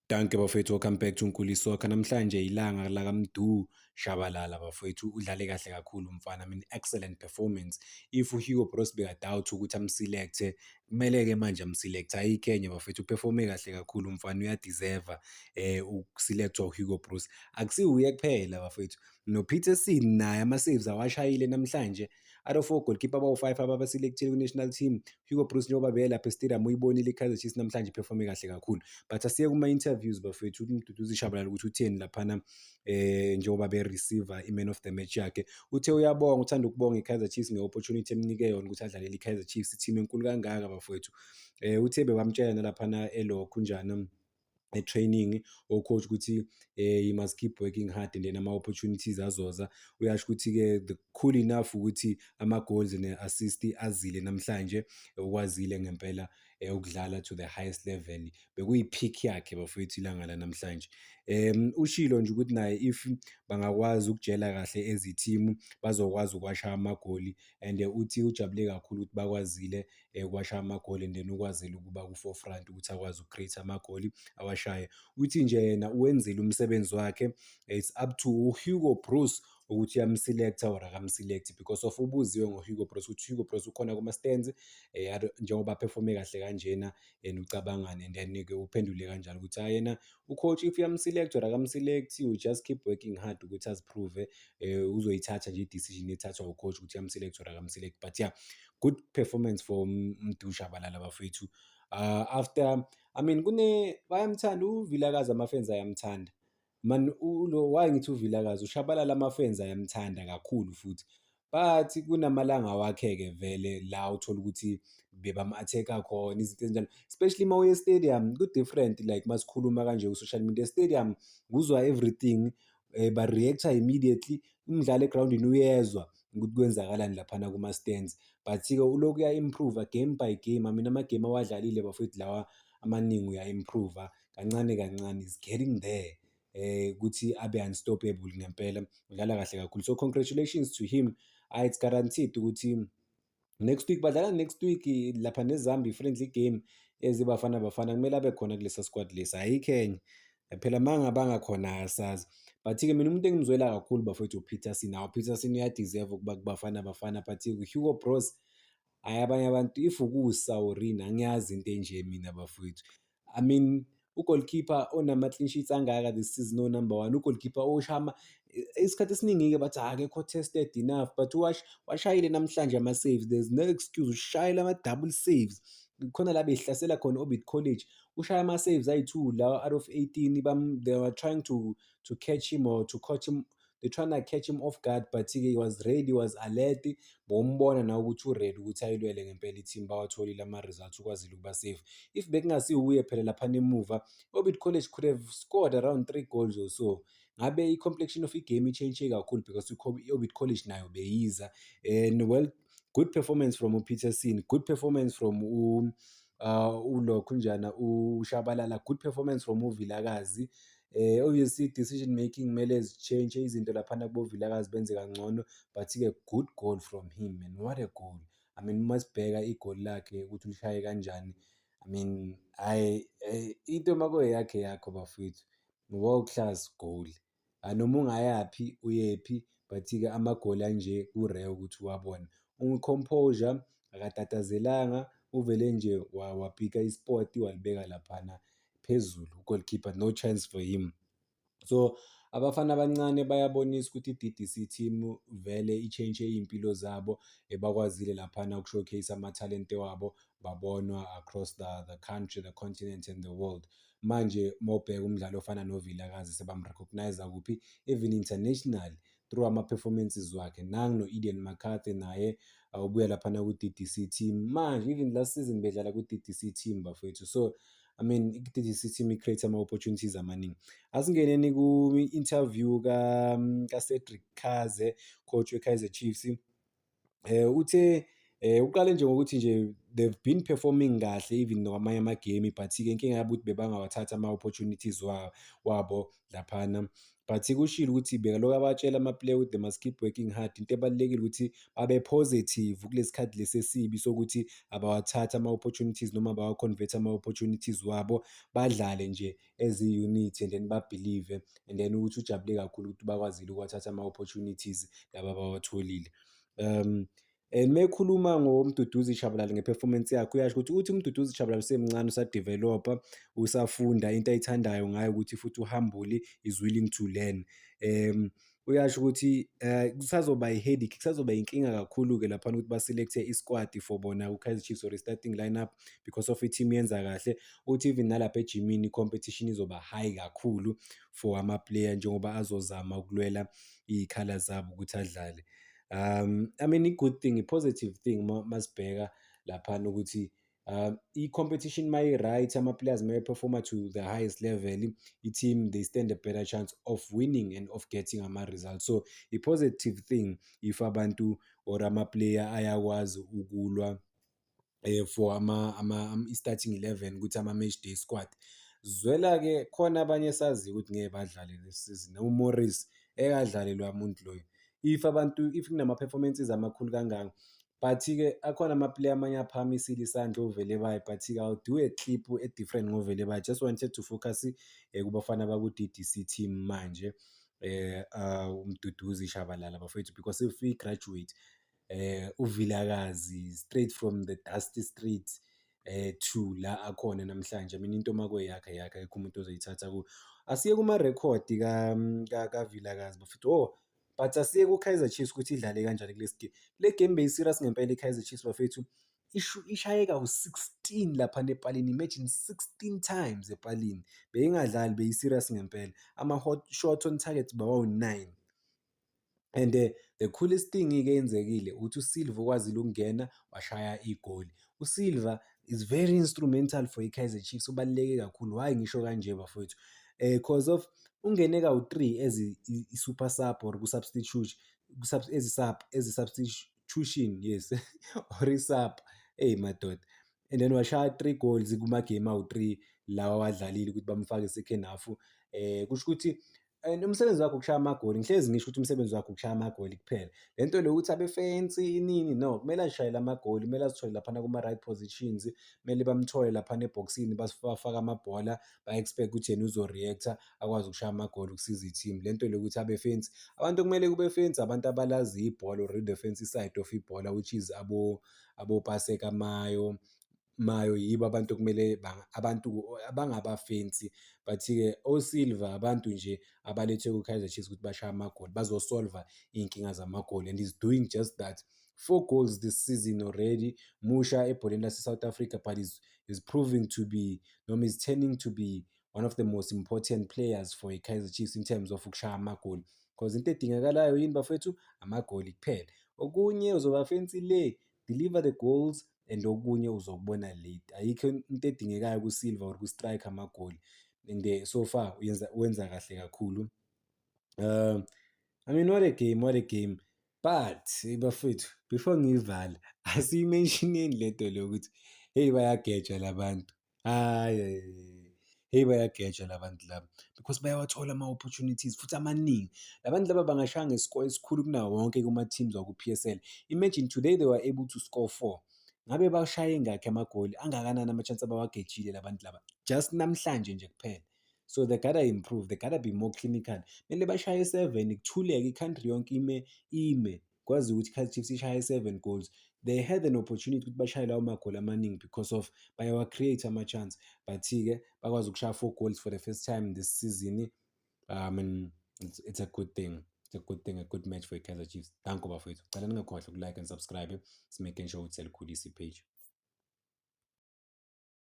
Dankie bafowethu welcome back to Nkuli Soccer. Namhlanje ilanga la kaMdu Shabalala bafowethu udlale kahle kakhulu mfana. I mean excellent performance. If uHugo Broos beka doubt ukuthi amselect kumele ke manje amselect ayi Kenya bafowethu uperforme kahle kakhulu mfana uya deserve eh ukuselectwa uHugo Broos. Akusiwuye kuphela bafowethu. No Peterson naye ama saves awashayile namhlanje. Out of four goalkeeper abawu-five ababaselekthile kwi-national team, Hugo Broos njengoba beyelapha e-stadium uyibonile i-Kaizer Chiefs namhlanje iphefome kahle kakhulu. But asiye kuma-interviews bafethu ukuthi uMduduzi Shabalala ukuthi utheni laphana eh njengoba be-receiver i-man of the match yakhe. Uthe uyabonga uthanda ukubonga i-Kaizer Chiefs nge-opportunity emnike yona ukuthi adlalele i-Kaizer Chiefs, i-team enkulu kangaka bafowethu. Eh uthe bebamtshela nalaphana elokhu njani e-training ocoach ukuthi eh you must keep working hard and then ama-opportunities azoza uyasho ukuthi-ke the cool enough ukuthi ama-goals ne-assist azile namhlanje ukwazile ngempela eh, ukudlala to the highest level bekuyi-pick yakhe bafowethu ilanga lanamhlanje um ushilo nje ukuthi naye if bangakwazi ukujela kahle ezithimu bazokwazi ukwasha amagoli and eh, uthi ujabule kakhulu ukuthi bakwazile ewasha amagoli and then ukwazile ukuba ku-forefront ukuthi akwazi uku-create amagoli awashaye. Uthi nje yena uwenzile umsebenzi wakhe, it's up to uHugo Broos ukuthi uyamselect-a or akamselect-i because of ubuziwe ngoHugo Broos ukuthi uHugo Broos ukhona kuma-stands eh, njengoba aphefome kahle kanjena and ucabangane and then-ke uphendule kanjalo ukuthi hayi yena ucoach if uyamselect or akamselect you just keep working hard ukuthi aziprove um uzoyithatha nje i-decision ethathwa ucoach ukuthi uyamselect or akamselect but yeah good performance for Mdu Shabalala bafethu uh, after I mean kune bayamthanda uVilakazi amafans ayamthanda man ulo why ngithi uVilakazi ushabalala amafans ayamthanda kakhulu futhi but kunamalanga wakhe-ke vele la uthola ukuthi bebam-attack-a khona izinto ezinjalo especially uma uye stadium ku-different like uma sikhuluma kanje ku-social media stadium kuzwa everything um ba-react-a immediately umdlali egrawundini uyezwa ukuthi kwenzakalani laphana kuma-stands but-ke ulokhu uya-improve-a game by game amina amagame awadlalile bafowethu lawa amaningi uya-improve-a kancane kancane is getting there eh ukuthi abe unstoppable ngempela udlala kahle kakhulu so congratulations to him ah it's guaranteed ukuthi next week badlala next week lapha nezambi friendly game ezibafana bafana kumele abe khona kulesa squad lesi ayikho enye phela manga bangakhona asazi but-ke mina umuntu engimzwela kakhulu bafowethu upeterson nawo upeterson uyadeserve ukuba kubafana bafana but uhugo bros hhayi abanye abantu if ukusa or ini angiyazi into enje mina bafowethu i mean ugoalkeeper onama-clean sheets angaka this season onumber one ugoalkeeper oshama isikhathi esiningi-ke bathi akekho tested enough but wash washayile namhlanje ama-saves there's no excuse ushayela ama-double saves khona la behlasela khona orbit college ushaya ama-saves ayi-two lawa out of 18 they were trying to, to catch him or to catch him they trying to catch him off guard but ke he was ready was alert bombona na ukuthi uready ukuthi ayilwele ngempela i-team bawatholile ama-results ukwazile ukuba safe if bekungasiwuye phela lapha nemuva orbit college could have scored around three goals or so ngabe i-complexion of i-game i-change kakhulu because i-orbit college nayo beyiza and well good performance from upeterson good performance from u uh, ulokhu njana ushabalala good performance from uvilakazi eh obviously decision making kumele zichange izinto laphana kubovilakazi benze kangcono but ke good goal from him man what a goal i mean uma sibheka igoli lakhe ukuthi ulishaye kanjani i mean hayi eh, into makoyakhe yakho bafowethu ngoba uklaz goal Ah, noma ungayaphi uyephi but-ke amagoli anje ku-rare ukuthi uwabone. Uncomposure akatatazelanga uvele nje wa- wapika ispot walibeka laphana phezulu ugoalkeeper no chance for him so abafana abancane bayabonisa ukuthi i-DDC team vele i-change iy'mpilo zabo ebakwazile laphana uku-showcase amathalente wabo babonwa across the, the country the continent and the world manje mawubheka umdlali ofana novilakazi sebamrecogniza kuphi even international through ama-performances wakhe nangu no-eden mccarthy naye uh, ubuya laphana ku-ddc team manje even last season bedlala ku-ddc team bafowethu so I mean, i-DDC team i-create ama-opportunities amaningi. Asingeneni ku-interview ka-Cedric Kaze, coach we-Kaizer Chiefs. um uthe Eh uqale nje ngokuthi nje they've been performing kahle even nokwamanye amagame but-ke inkinga yabo ukuthi bebangawathathi ama-opportunities wabo laphana but kushilo ukuthi bekalokhu abatshela ama-player ukuthi they must keep working hard into ebalulekile ukuthi babe positive kulesi khathi lesi esibi sokuthi abawathathi ama-opportunities noma bawa-convert ama-opportunities wabo badlale nje as i-unit and then babhilive and then ukuthi ujabule kakhulu ukuthi bakwazile ukuwathatha ama-opportunities laba bawatholile um and mekhuluma ngomduduzi shabalala ngeperformance yakhe uyasho ukuthi uthi umduduzi shabalala usemncane usadevelopa usafunda into ayithandayo ngayo ukuthi futhi uhambule is willing to learn um Uyasho ukuthi eh kusazoba i-headache, kusazoba inkinga kakhulu-ke laphana ukuthi ba-select-e i-squad for bona ku-Kaizer Chiefs or i-starting lineup because of i-team yenza kahle. Uthi even nalapha ejimini i-competition izoba high kakhulu for ama-player njengoba azozama ukulwela iy'khala zabo ukuthi adlale. Um, I mean i-good thing, i-positive thing uma uma sibheka laphana ukuthi Uh, i-competition uma i-right ama-players uma eperforma to the highest level i-team they stand a better chance of winning and of getting ama-result so i-positive thing if abantu or ama-player ayakwazi ukulwa eh, for ama, ama, ama i-starting 11 ukuthi ama-match day squad zwela-ke khona abanye esaziyo ukuthi ngeke badlale le season umorris ekadlalelwa muntu loyo if abantu if kunama-performances amakhulu kangaka But-ke akhona ama-player amanye aphakamisile isandla ovele baye but-ke I'll do a clip e-different ngovele baye. Just wanted to focus kubafana baku-DDC team manje eh uh, uMduduzi Shabalala bafethu because if we graduate eh uVilakazi straight from the dusty streets eh to la akhona namhlanje mina into makwe yakhe yakhe akekho umuntu ozoyithatha ku asiye kuma record ka ka Vilakazi bafethu oh but asiye ku-kaizer chiefs ukuthi idlale kanjani kule game le game beyi-serious ngempela i-kaizer chiefs bafethu ishayeka u-16 lapha nepalini imagine 16 times epalini beyingadlali beyi-serious ngempela ama-hot shot on target bawawu-9 and uh, the coolest thing-ke yenzekile ukuthi usilva ukwazile ukungena washaya igoli USilva is very instrumental for iKaizer Chiefs ubaluleke kakhulu why ngisho kanje bafowethu eh cause of ungene kawu-3 as i-super sub or ku-substitute as i-sub as i-substitution yes or i-sub eyi madoda and then washaya three goals kumagame awu-three lawa wadlalile ukuthi bamfake second half eh kusho ukuthi and umsebenzi wakho ukushaya amagoli ngihlezi ngisho ukuthi umsebenzi wakho ukushaya amagoli kuphela le nto le ukuthi abefensi inini no kumele azishayele amagoli kumele azithole laphana kuma-right positions kumele bamthole laphana ebhokisini bafake amabhola ba-expect ukuthi yena uzo-reactor akwazi ukushaya amagoli ukusiza i-team le nto le ukuthi abefensi abantu kumele kubefensi abantu abalazi ibhola or the fancy side of ibhola which is abo abopaseka mayo mayo yibo abantu okumele abantu abangabafensi but-ke osilver abantu nje abalethwe kwi-kaizer chiefs ukuthi bashaye amagoli bazosolva iy'nkinga zamagoli and is doing just that four goals this season already musha ebholeni lase-south africa but is, is proving to be noma is turning to be one of the most important players for i-kaizer chiefs in terms of ukushaya amagoli because into edingakalayo yini bafethu amagoli kuphela okunye uzobafensi le deliver the goals and okunye uzokubona late ayikho into edingekayo kusilva or kustrike amagoli and eh, so far uyenza wenza kahle kakhulu um i mean what a game what a game but bafethu before ngiyivale asiyimentioneni lento le ukuthi heyi bayagejwa labantu Hhayi, hheyi bayageja la bantu laba because bayawathola ama-opportunities futhi amaningi. La bantu laba bangashaya nge-score esikhulu kunawo wonke kuma-teams wakwi-P_S_L. Imagine today they were able to score four. Ngabe bashaye ngakhi amagoli, angakanani ama-chance abawagejile la bantu laba just namhlanje nje kuphela. So they gotta improve, they gotta be more clinical. Kumele bashaye seven, kuthuleke, i-country yonke ime, ime. kwazi ukuthi Kaizer Chiefs ishaye 7 goals they had an opportunity ukuthi bashaye lawo magoli amaningi because of bayawa create ama chance but ke bakwazi ukushaya 4 goals for the first time this season um and it's, it's a good thing it's a good thing a good match for Kaizer Chiefs thank you bafethu cela ningakhohlwa uku like and subscribe simaking sure ukuthi selikhulisa page